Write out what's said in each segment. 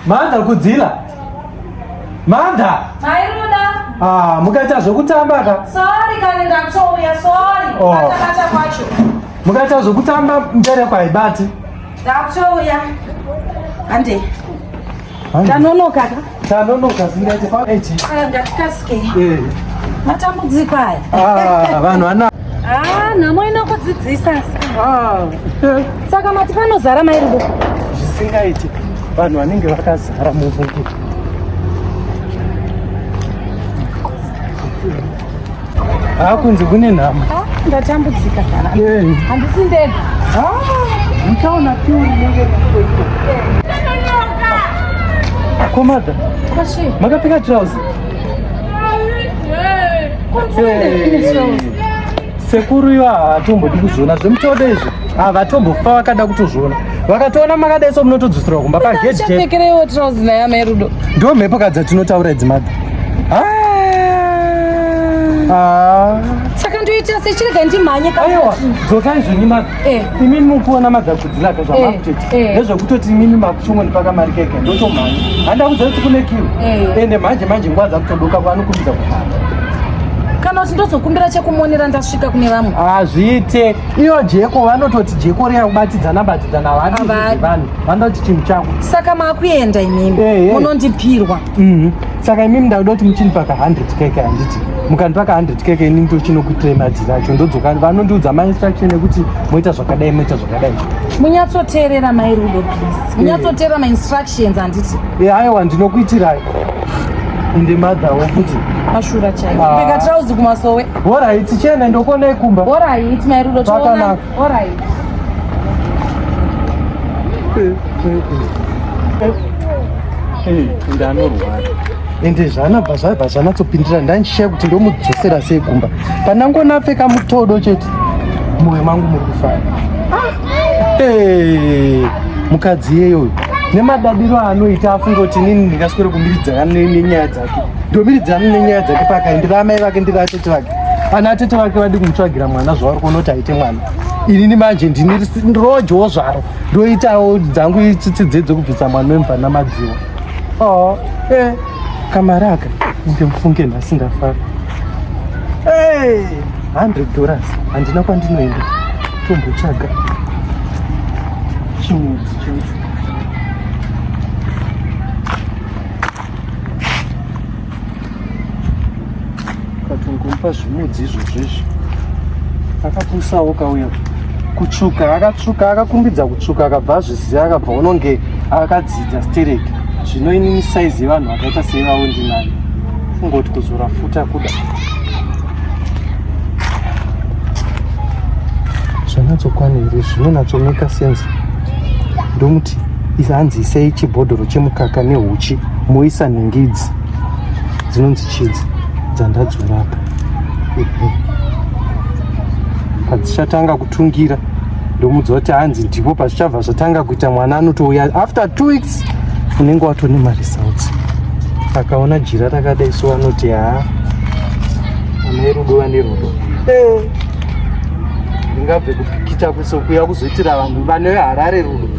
Manda kudzila. Manda. Mairuda. Ah, mukaita zvokutamba ka? Sorry kana ndakutouya, sorry. Oh. Kata kwacho. Mukaita zvokutamba mbere kwaibati. Ndakutouya. Ande. Tanonoka ka? Tanonoka zingati pa eche. Ah, ngatikasike. Eh. Matambudziko aya. Ah, vanhu ana. Ah, nhamo inokudzidzisa asi. Ah. Saka mati panozara mai rudo. Zvisingaiti. Vanhu vanenge vakazara muvhungu. Ah, kunze kune nhamo. Ah, ndatambudzika kana. Eh. Handisi ndega. Ah, nikaona piu inenge kuiko. Komada. Kwashi. Makapfeka trouse. Sekuru iwa hatombodi kuzviona zvemutode izvi. Ah, vatombofa vakada kutozviona. vakatoona makadai so munotodzoserwa kumba pagedpfekereiwo trousi naye amai rudo ndo mhepo ka dzatinotaura idzi madha ah. ah. saka ndoita sechirega ndimhanye aiwa dzokai zveni madha eh. imini mukuona madha kudzilaka zvamakutoita eh, eh. nezvekutoti imini makuchomwa ndipaka mari keke ndotomhanya handakudza kuti kune kiwo ende manje manje nguva dzakutodoka kwanokumbidza kufamba kana kuti ndozokumbira chekumonera ndasvika kune vamwe hazviite ah, iyo jeko vanototi jeko riya kubatidzana batidzana havadi vanhu vanoti chinhu chako saka makuenda imimi eh, eh. munondipirwa mhm. saka imimi ndakuda kuti muchindipa ka 100 keke handiti mukandipa ka 100 keke ini ndochinokuitirei madziri acho ndodzoka vanondiudza mainstruction ekuti moita zvakadai moita zvakadai munyatsoteerera mai rudo please eh. munyatsoteerera mainstructions handiti aiwa ndinokuitirai ende madhawo kuti mashura chaio ah. peka trauzi kumasowe Alright, tichene ndokuonai kumba. Alright, mai Rudo toona. Alright. Hey, ndanorwara. Ende zvanabva zvaibva zvanatsopindira ndanishiya kuti ndomudzosera sei kumba. Pandangoona apfeka mutodo chete. Moyo mangu muri kufara. Ah! Hey, mukadzi yeyo uyu. Nemadadiro anoita afunga kuti nini ndingaswere kumbiridza nenyaya dza Domiri dzanu nenyaya dzake pakai ndiri amai vake ndiri atete vake ana atete vake vadi kumutsvagira mwana zvavari kuona kuti aite mwana inini manje ndini rojowo zvaro ndoitawo dzangu itsitsi dzedzo kubvisa mwana wemva namadziwa o oh, e eh, kamari aka inde mufunge nhasi ndafara e eh, hundred dollars handina kwandinoenda tombotsvaga chimudzi chacho katongompa zvimudzi izvozvo izvi akapusawo kauya kutsvuka akatsvuka akakumbidza kutsvuka akabva azviziva akabva unonge akadzidza stereki zvino inini saizi yevanhu vakaita seivavo ndinani kungoti kuzora futa kuda zvanatsokwana here zvinonatsomeka sense ndomuti Isa hanzi isei chibhodhoro chemukaka nehuchi moisa nhingi idzi dzinonzi chidzi dzandadzura apa padzichatanga kutungira ndomuudza kuti hanzi ndipo pazvichabva zvatanga kuita mwana anotouya after two weeks unenge watone maresults akaona jira rakadai so anoti haa amai rudo vane rudo eh. ndingabve kupikita kwesokuya kuzoitira vanhu vane harare rudo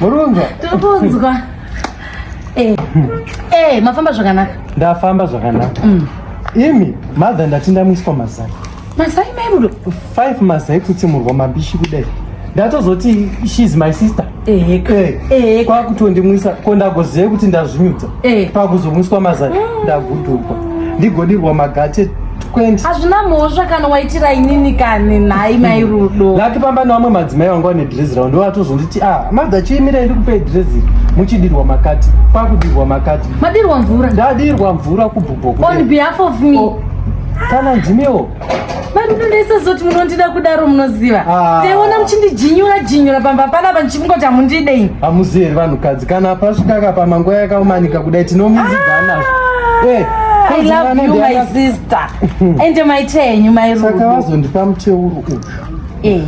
Murunza. Tobunzwa. Eh. Eh, mafamba zvakanaka. Ndafamba zvakanaka. Mm. Imi, mother ndati ndamuiswa mazai. Mazai mai mudo. Five mazai kuti murwa mabishi kudai. Ndatozoti she is my sister. Eh. Eh. eh. Kwa kuti ndimuisa ko ndagoziva kuti ndazvinyudza. Eh. Pakuzomuiswa mazai. Mm. Ndagudurwa. Ndigodirwa magate Kwendi. Hazvina mhosva kana waitira inini kani nhai mai rudo. Laki pamba nevamwe madzimai vanga vane dress ravo ndivo vatozonditi ah madha chiimira iri kupei dress iri muchidirwa makati kwakudirwa makati. Madirwa mvura. Ndadirwa mvura kubhubho. On behalf of me. Oh. Kana ndimiwo. Mai rudo ndaisazoti munondida kudaro munoziva. Ah. Taiona muchindijinyura jinyura pamba panapa kungoti hamundide ini hamuzivi here vanhukadzi kana hapasvika kapa manguva yakaumanika kudai tinomuziva nazvo ah, eh, I love you my sister ende maita henyu mairusaka vazondipa muteuro uyu eh.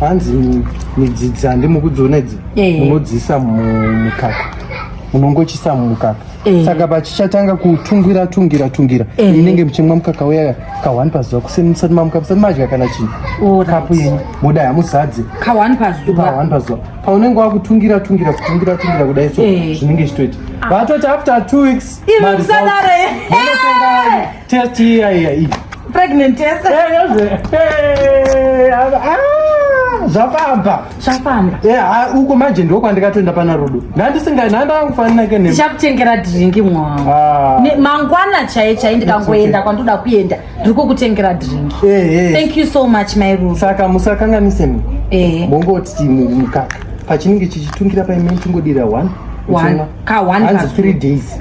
hanzi midzidzi handimukudziona idzi eh. munodziisa mumukaka munongochisa mumukaka Eh. saka pachichatanga kutungira tungira tungira eh. inenge muchimwa mukaka uya kahwani pazuva kuseni musati mamuka musati madya kana chii kapu yenyu modai hamuzadze kahwani pazuva paunenge wakutungira tungira kutungira tungira kudai so eh. zvinenge zvichitoita vatoti after two weeks Test iya iya iyi. Pregnant test. Eh, yoze. Eh, ah, zvafamba. Zvafamba. Eh, ah, uko manje ndiko kwandikatoenda pana Rudo. Ndandisinga ndanga kufanira ke ne. Ndichakutengera drink mwangu. Ah. Ne mangwana chaye chaye ndikangoenda kwandoda kuenda. Ndiri kukutengera drink. Eh, eh. Thank you so much my Rudo. Saka musakanganise ni. Eh. Mongoti mukaka. Pachinenge chichitungira paimene chingodira 1. 1. Ka 1 ka 3 days.